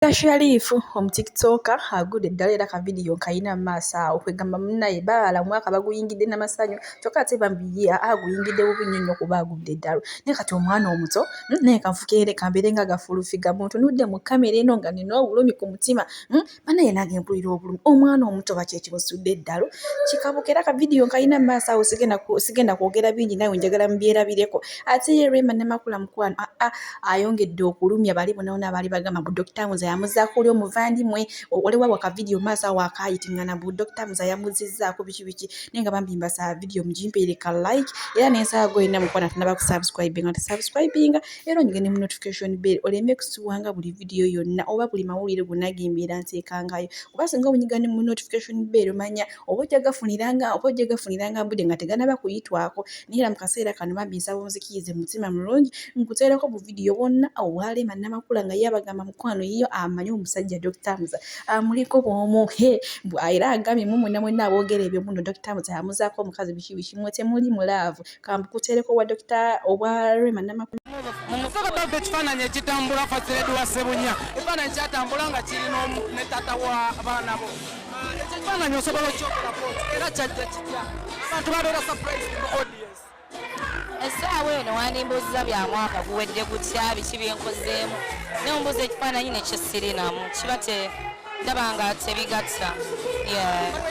Dokita Sharif omu tiktoker agudde eddala era ka vidiyo nkayina mu maaso awo kwegamba munnaye baala omwaka baguyingidde na masanyu kyokka ate bambi ye aa aguyingidde bubi nnyo nnyo kuba agudde eddalu naye kati omwana omuto hmm, naye kanfukeere kambeere nga gafulufiga muntunudde mu kamera eno nga nina obulumi ku mutima hmm, banaye nange mpulira obulumi omwana omuto bakyekimusudde eddalu kikabuka era ka vidiyo nkayina mu maaso awo sigenda kwogera bingi nawe njagala mubyerabireko ate ye rema ne makula mukwano aa ah, ah. ayongedde okulumya bali bonaona baali bagamba mbu dokita muza yamuzaako oli omuvandimwe waliwo waka vidiyo maaso awo akaayitingana mbu dokita muza yamuzizzaako biki biki naye nga bambi mbasaba vidiyo mugimpeereka like era nensaba gwe olina mukwana tunaba kusubscribe nga tusubscribinga era onyige ne mu notification bell oleme kusibwanga buli vidiyo yonna oba buli mawulire gonna gembeera nteekangayo kuba singa onyiga ne mu notification bell omanya oba ojja gafuniranga oba ojja gafuniranga mbude nga teganaba kuyitwako naye era mu kaseera kano bambi nsaba onzikiyize mu mutima mulungi nkuteereko buvidiyo bwonna obwalema namakula nga ye abagamba mukwano yiyo amanyi omusajja dr muza amuliko bwomu he era agambye mumwena mwenna aboogera ebyo muno dr muza amuzaako omukazi biki biki mwe temuli mulaavu kambukuteereko obwa dokita obwa rema namakula mumusaka baba ekifaananyi ekitambula fasiledi wa sebunya ekifaananyi kyatambula nga kirina ne tata wa baana bo ah, ekyo ekifaananyi osobola okyokolako era kyajja kitya abantu babeera surprise mu audience essaawa eno wandimbuuziza bya mwaka guwedde gutya biki byenkozeemu ne ombuuza ekifaananyi nekisirinamu kiba te ndaba nga tebigatta yeah.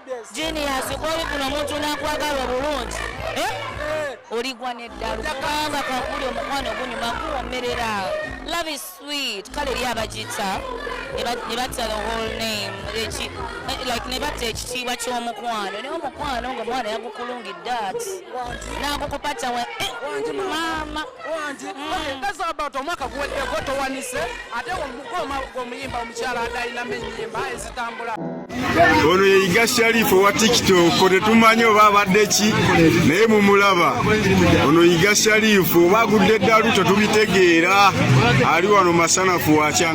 Genius kwoli kuno omuntu nakwagala obulungi eh? Eh. oligwa neddalu kubanga kakuli omukwano gunyuma guwomerera love is sweet kale eri abagita ne batta the whole name eh, like ne batta ekitiibwa ky'omukwano naye omukwano nga omwana yagukulungidde ati nagukupacawe maama wangi ezabato omwaka guweddeko towanise ate omukoma gwomuyimba omukyala adayinamu enyimba ezitambula ono yeyiga sharifu owa tiktok tetumanyi oba abadde ki naye mumulaba ono yiga sharifu oba agudde eddalu tetubitegeera ali wano masanafu wakya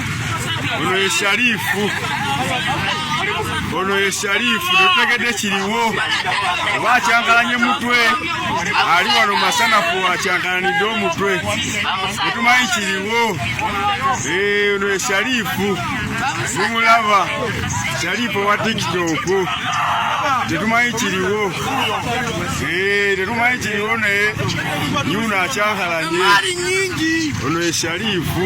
ono ye sharifu ono ye sharifu totegedde kiriwo oba akyankalanye mutwe ali wano masanafu akyankalanidde omutwe etumanyi kiriwo eh, ono ye sharifu mumulaba sharifu owa tikitoku tetumanyi kiriwo eh, tetumanyi kiriwo naye yuno akyankalanye ono ye sharifu